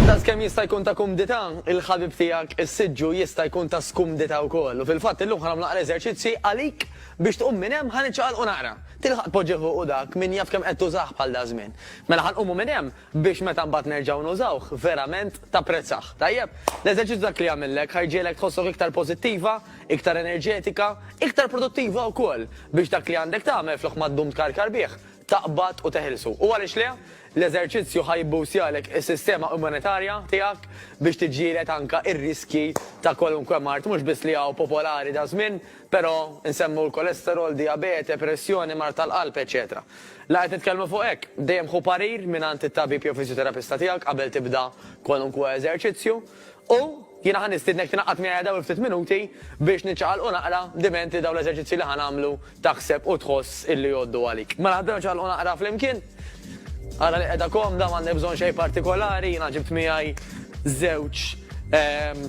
Daqskemm jista' jkun ta' kumdità, il-ħabib tiegħek is-siġġu jista' jkun ta' skumdità wkoll. U fil-fatt illum ħa nagħmlu naqra eżerċizzji għalik biex tqum minn hemm ħa niċċaqalqu naqra. Tilħaq tpoġġih fuq u dak min jaf kemm qed tużah bħal daż-żmien. Mela ħa nqumu minn hemm, biex meta mbagħad nerġgħu nużawh, verament tapprezzah. Tajjeb? L-eżerċizzju dak li jagħmillek, ħa jġiegħlek tħossok iktar pożittiva, iktar enerġetika, iktar produttiva wkoll biex dak li għandek tagħmel flok ma ddum tkarkar bih, taqbad u teħilsu. U għaliex le? L-eżerċizzju ħa jibboostjalek is-sistema immunitarja tiegħek biex tiġġieled anke r-riskji ta' kwalunkwe mard, mhux biss li hawn popolari daż-żmien, però nsemmu l-kolesterol, dijabete, pressjoni, mard tal-qalb, eċċetera. La qed nitkellmu fuq hekk. Dejjem ħu parir mingħand it-tabib jew fiżjoterapista tiegħek qabel tibda kwalunkwe eżerċizzju. U, jiena ħa nistiednek tingħaqad miegħi għal dawn il-ftit minuti biex niċċaqalqu naqra, dimenti dawn l-eżerċizzji li ħa nagħmlu taħseb u tħoss illi jgħoddu għalik. Mela ħdieru nċaqalqu naqra flimkien. Ara li qiegħda komda, m'għandek bżonn xejn partikolari, jiena ġibt miegħi żewġ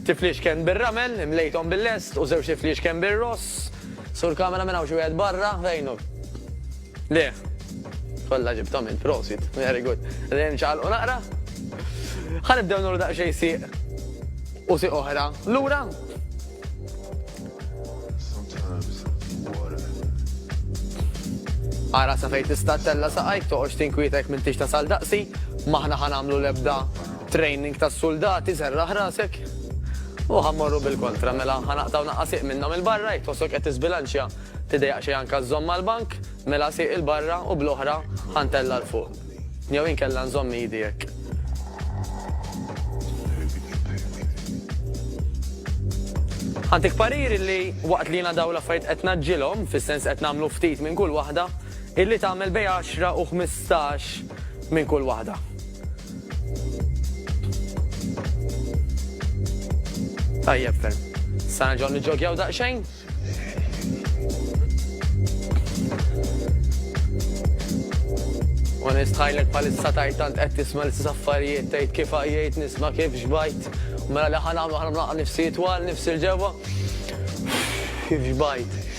tifliexken bir-ramel, imlejthom bil-lest, u żewġ tifliexken bir-ross. Sur kamera minn hawn xi wieħed barra fejnuk. Le. Kollha ġibtom int, prosit. Very good. Lejn ċaqalqu naqra. Ħanibdew nuru daqsxejn siq u siq oħra. Lura. Ara sa fejn tista' tella saqajk toqgħodx tinkwitek minn tixta sal daqsi, maħna ħanamlu lebda Training tas-suldati serraħ rasek. U ħa mmorru bil-kontra, mela ħa naqtgħu naqqa' sieq minnhom 'il barra, jekk tħossok qed tiżbilanċja tidejjaq xejn anke żżomm mal-bank, mela sieq 'il barra u bl-oħra ħa ntella' 'l fuq. Jew inkella nżomm idi hekk. Ħa ntik parir illi waqt li jiena dawn l-affarijiet qed ngħaġġilhom, fis-sens qed nagħmlu ftit minn kull waħda, illi tagħmel bejn għaxra u ħmistax minn kull waħda. Tajjeb ferm. Sa nerġgħu niġġogjaw daqsxejn? U nistħajlek palissa tajt tant qed tisma' l-istess affarijiet tgħid kif għajjejt nisma' kif xbajt. Mela li ħan għamlu ħan nifsi twal, nifsi l-ġewwa. Kif xbajt.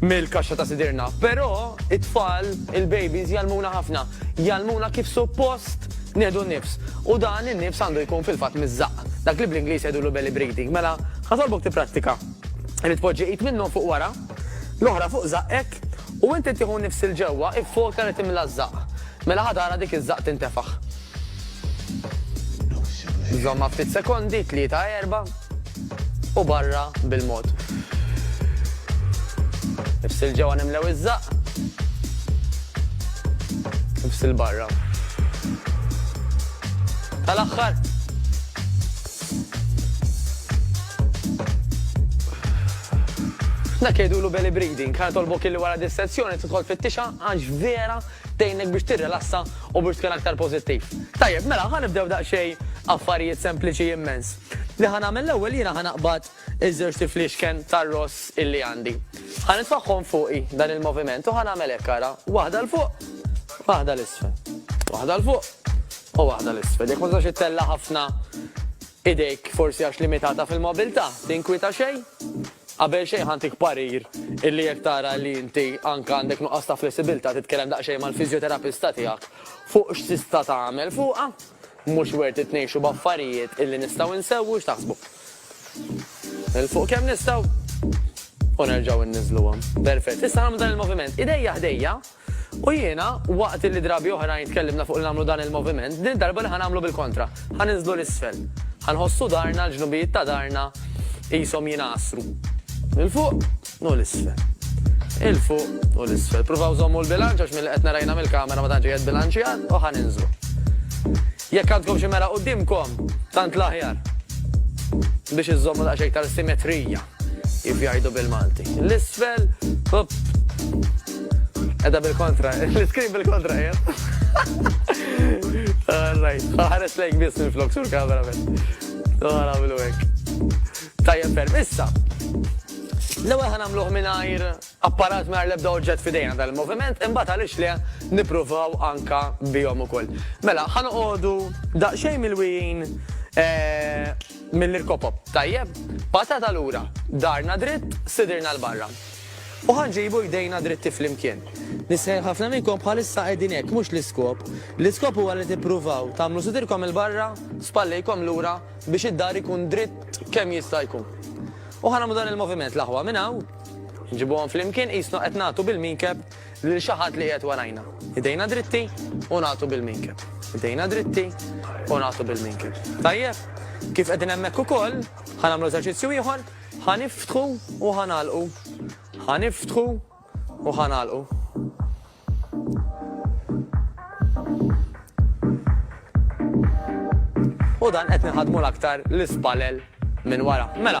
mill-kaxxa ta' sidirna. Però it-tfal, il-babies, jgħallmuna ħafna. Jgħallmuna kif suppost nieħdu n-nifs. U dan in-nifs għandu jkun fil-fatt miż-żaqq. Dak li bl-Ingliż jgħidulu belly breathing. Mela, ħatolbok tipprattika. Irid tpoġġi id minnhom fuq wara, l-oħra fuq żaqqek, u inti tieħu n-nifs 'il ġewwa, iffoka li timla ż-żaqq. Mela ħa tara dik iż-żaqq tintefaħ. Żommha ftit sekondi, tlieta erba' u barra bil-mod. Ifsil ġewwa nimlew iż-żaqq. Ifsil barra. Tal-aħħar. Dak jgħidulu belly breathing, ħa tolbok illi wara dis-sezzjoni tidħol fit-tixa għax vera tgħinek biex tirrilassa U Bruce kien aktar pożittiv. Tajjeb, mela ħa nibdew daqsxejn affarijiet sempliċi immens. Li ħa nagħmel l-ewwel jiena ħa naqbad iż-żewġt tifliexken tar-ross illi għandi. Ħa nitfagħhom fuqi dan il-moviment u ħa nagħmel hekk ara, waħda 'l fuq, waħda 'l isfel. Waħda 'l fuq u waħda 'l isfel. Jekk ma tistax ittella' ħafna idejk forsi għax limitata fil-mobilità, tinkwieta xejn? Qabel xejn ħa ntik parir illi jekk tara li inti anke għandek nuqqas ta' flessibilità titkellem daqsxejn mal-fiżjoterapista tiegħek fuq x'tista' tagħmel fuqha. Mhux worth it ngħixu b'affarijiet illi nistgħu nsewwu, x'taħsbu? Nilfqu kemm nistgħu u nerġgħu nniżluhom. Perfett. Issa nagħmlu dan il-moviment. Idejja ħdejja. U jiena, waqt li drabi oħrajn tkellimna fuq li nagħmlu dan il-moviment, din id-darba li ħa nagħmlu bil-kontra, ħa ninżlu 'l isfel. Ħa nħossu darna, l-ġnubijiet ta' darna qishom jingħasru. 'l fuq u 'l isfel. 'il fuq u 'l isfel. Pruvaw żommu l-bilanċ għax milli qed nara jiena mill-kamera ma tantx qiegħed bilanċjat u ħa ninżlu. Jekk għandkom xi mera quddiemkom, tant l-aħjar biex iżżommu daqsxejn iktar simetrija. Kif jgħidu bil-Malti. L-isfel. Edha bil-kontra. L-iskrin bil-kontra jgħid. Alright. Ħares lejk biss minn flok sur kamera minn. Għara għamlu għek. Tajjeb ferm. Issa. L-ewwel ħan għamluh mingħajr apparat mingħajr l-ebda oġġett fidejna tal-moviment, imbagħad għaliex le nippruvaw anka bihom ukoll. Mela, ħan għodu daqsxejn mill-wijin eh, Mill-irkopop. Tajjeb. Patata lura. Darna dritt, sidirna 'l barra. U ħa nġibu jdejna dritti flimkien. Nisħen ħafna minnkom bħalissa qegħdin hekk, mhux l-iskop. L-iskop huwa li tippruvaw tagħmlu sidirkom 'il barra, spallejkom lura biex id-dar ikun dritt kemm jista' jkun. U ħa nagħmlu dan il-moviment, l-aħwa minn hawn, nġibuhom flimkien qisna qed nagħtu bil-minkeb Lil xi ħadd li qiegħed warajna. Idejna dritti u nagħtu bil-minkeb. Idejna dritti u nagħtu bil-minkeb. Tajjeb? Kif qegħdin hemmhekk ukoll, ħa nagħmlu eżerċizzju ieħor, ħa niftħu u ħa nagħlqu. Ħa niftħu u ħa nagħlqu. U dan qed nħadmu l-aktar l-ispalel minn wara. Mela.